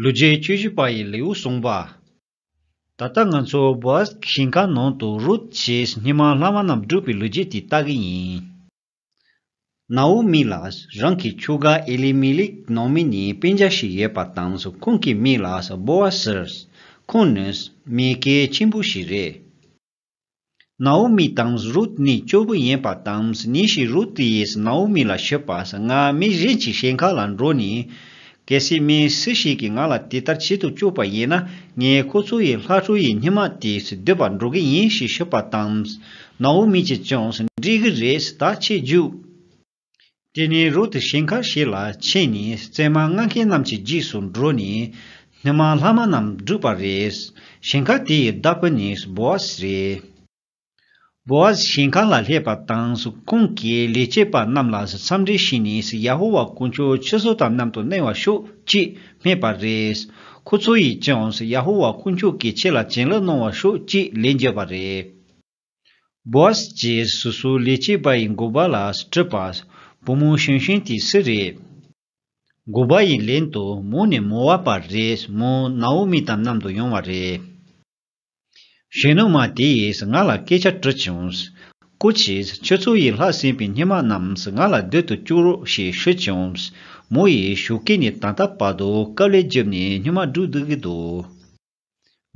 ལུས་རྗེས་བཅུ་བཞི་པ་ཡི་ལེའུ་གསུངས་པ། ད་ལྟ་ང་ཚོ་བོད་ཞིང་ཁ་ནང་དུ་རུད་ཅེས་སྙེ་མ་ལྷ་མ་རྣམས་བསྒྲུབས་པའི་ལུས་རྗེས་དེ་ལྟ་གི་ཡིན། ན་ཨུ་མི་ལ་རང་གི་ཁྱོ་ག་ཨེ་ལི་མི་ལིག་ནང་མི་ནི་དཔེ་འཇགས་ཤིག་ཡོད་པ་དང་ཁོང་གི་མི་ལ་སྦོ་ཨ་སིར་ཁོང་ནི་མི་སྐལ་ཆེན་པོ་ཞིག་རེད། ནཱའུ་མི་དང་རུད་ནི་སྐྱོ་བོ་ཡིན་པ་དང་ཉིན་ཞིག་རུད་ཡིས་ནཱའུ་མི་ལ་ཤི་བ་ང་མི་གཞན་གྱི་ཞལ་ཁ་ལ་འགྲོ་ནས། གལ་སྲིད་མི་སུ་ཞིག་གིས་ང་ལ་དེ་ལྟར་བྱེད་དུ་བཅུག་པ་ཡིན་ན་ངས་ཁོ་ཚོ་ཡི་ལྷ་ཁྲོ་ཡི་སྙེ་མ་དེ་སྡོད་པར་འགྲོ་གི་ཡིན་ཞེས་ཞུས་པ་དང། ནཱའུ་མི་གྱིས་ཀྱང་འགྲིག་གི་རེད་ད་ཁྱེད་རྒྱུགས། དེ་ནས་རུ་དུ་ཞིང་ཁར་ཞིག་ལ་ཕྱིན་ནས་བཙས་མ་མངགས་མཁན་རྣམས་ཀྱི་རྗེས་སུ་འགྲོ་ནས། སྣེ་མང་ལྷག་མ་རྣམས་བསྒྲུབས་པ་རེད། ཞིང་ཁ་དེ་ཡི་བདག་པོ་ནི་བོ་ཨ་ཟི་རེད། བོ་ཨ་ཟི་ཞིང་ཁ་ལ་སླེབས་པ་དང་ཁོང་གིས་ལས་བྱེད་པ་རྣམས་ལ་འཚམས་འདྲི་ཞུས་ནས་ཡ་ཧོ་ཝཱ་དཀོན་མཆོག་ཁྱོད་ཚོ་དང་མཉམ་དུ་གནས་བར་ཤོག་ཅེས་སྨྲས་པ་རེད། ཁོ་ཚོ་ཡིས་ཀྱང་ཡ་ཧོ་ཝཱ་དཀོན་མཆོག་གིས་ཁྱེད་ལ་བྱིན་རླབས་གནང་བར་ཤོག་ཅེས་ལན་བརྒྱབ་པ་རེད། Boss ཀྱི་སུ་སུ་ལས་སྐྱེས་པ་ཡི་མགུ་བ་ལ་སྤྲུལ་པ། བུ་མོ་ཞུན་ཞུན་དེ་སུ་རེད། མགུ་བ་ཡི་ལན་དུ་མོ་ནི་མོ་བ་པ་རེད་མོ་ནའོ་མི་དང་མཉམ་དུ་ཡོང་བ་རེད། གཞོན་ནུ་མ་དེ་ཡིས་ང་ལ་སྐད་ཆ་དྲིས་བྱུང། ཀུ་ཅིས་ཁྱོད་ཚོ་ཡི་ལྷག་ཟིན་པའི་སྙེ་མ་རྣམས་ང་ལ་སྡོད་དུ་བཅུག་རོགས་ཞེས་ཞུས་བྱུང། མོ་ཡིས་ཞུ་སྐད་ནི་ད་ལྟ་བར་དུ་སྐབས་ལས་བརྒྱུད་ནས་སྙེ་མ་བསྒྲུགས་སྡུག་གི་འདུག།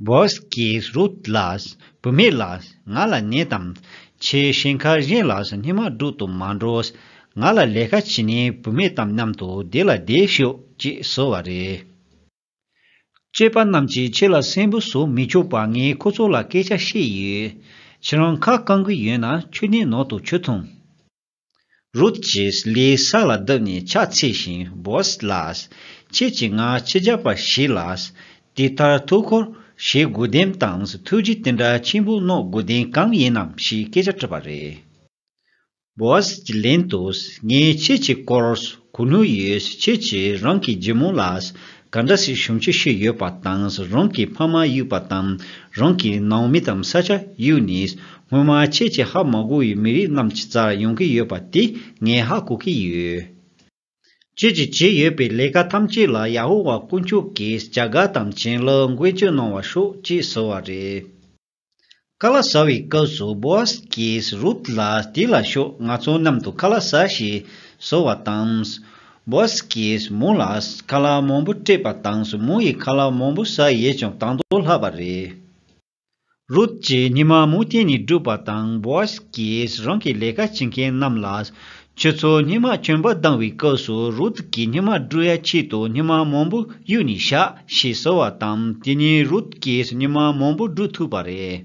Boss Kees Rutgelaars བུད་མེད་ལགས་ང་ལ་ནད་དམ། ཆེས་ཞེན་ཁ་གཞན་ལ་སོ་སྣེ་མ་སྒྲུག་དུ་མ་འགྲོ། ང་ལ་ལས་ཀ་བྱེད་ནས་བུད་མེད་དམ་མཉམ་དུ་བསྡད་ལ་བསྡད་ཤོག་ཅེས་གསོལ་བ་རེད། སྐྱེས་པ་རྣམས་ཀྱིས་ཁྱེད་ལ་སེམས་བུ་བཟོ་མི་ཆོག་པ་ངས་ཁོ་ཚོ་ལ་སྐད་ཆ་བཤད་ཡོད། ཁྱེད་རང་ཁ་བསྐང་གི་ཡོད་ན་ཁྱོད་ནི་ནོར་དུ་ཆུད་ཐུང། རུད་ཀྱིས་ལི་ས་ལ་བསྡུ་ནས་ཕྱག་འཚལ་ཞིང་བོས་ལ། ཁྱེད་ཀྱི་སྔ་ཕྱི་བརྒྱ་པར་ཞུས་ལ། དེ་ལྟར་ཐུགས་འཁོར་ཞེ་དགུ་ལྡེམ་དང་ཐུགས་རྗེ་དེ་འདྲ་ཆེན་པོ་རྣོ་དགུ་ལྡན་གང་ཡིན་ནམ་ཞེས་སྐད་ཆ་དྲིས་པ་རེད། བོས་ཀྱིས་ལན་དུ། ངས་ཁྱེད་ཀྱི་སྐོར་གོ་ནུས་ཡོད་ཁྱེད་ཀྱིས་རང་གི་རྒྱུ་མོ་ལ་ག་འདྲ་སྲིད་གཞུང་ཆེ་ཤོས་ཡོད་པ་དང་རང་གི་ཕ་མ་གཡུག་པ་དང་རང་གི་ནང་མི་དང་ས་ཆ་གཡུག་ནས་སྔོན་མ་ཁྱེད་ཀྱི་ཧ་མ་གོ་བའི་མི་རིགས་རྣམས་ཀྱི་རྩར་ཡོང་གི་ཡོད་པ་དེ་ངས་ཧ་གོ་གི་ཡོད། ཁྱེད་ཀྱིས་བྱས་ཡོད་པའི་ལས་ཀ་ཐམས་ཅད་ལ་ཡ་ཧོ་ཝཱ་དཀོན་མཆོག་གིས་བྱ་དགའ་དང་བྱིན་རླབས་མགོན་སྐྱོན་གནང་བར་ཤོག་ཅེས་ཟེར་བ་རེད། ཀ་ལ་ས་བའི་སྐབས་སུ་བོས་ཀྱིས་རུབ་ལ་དེ་ལ་ཤོག་ང་ཚོ་གནམ་དུ་ཀ་ལ་ས་ཞེས་ཟེར་བ་དང། བོས་ཀྱིས་མོ་ལ་ཀ་ལ་མང་པོ་སྤྲད་པ་དང་མོ་ཡི་ཁ་ལ་མང་པོ་ཟ་ཡས་ཀྱང་དང་དོ་ལྷག་པ་རེད། རུབ་ཀྱིས་ཉི་མ་མོ་བསྟན་ནས་བསྒྲུབས་པ་དང་བོས་ཀྱིས་རང་གི་ལས་ཀ་བྱེད་མཁན་རྣམས་ལ་ཁྱོད་ཚོ་སྙེ་མ་གྱོན་པ་ལྡང་བའི་སྐབས་སུ་རུད་ཀྱིས་སྙེ་མ་སྦྲུལ་ཡ་ཆེད་དུ་སྙེ་མ་མང་པོ་གཡུགས་ནས་བཞག་ཞེས་ཟེར་བ་དང་དེ་ཉིད་རུད་ཀྱིས་སྙེ་མ་མང་པོ་སྦྲུལ་ཐུབ་པ་རེད།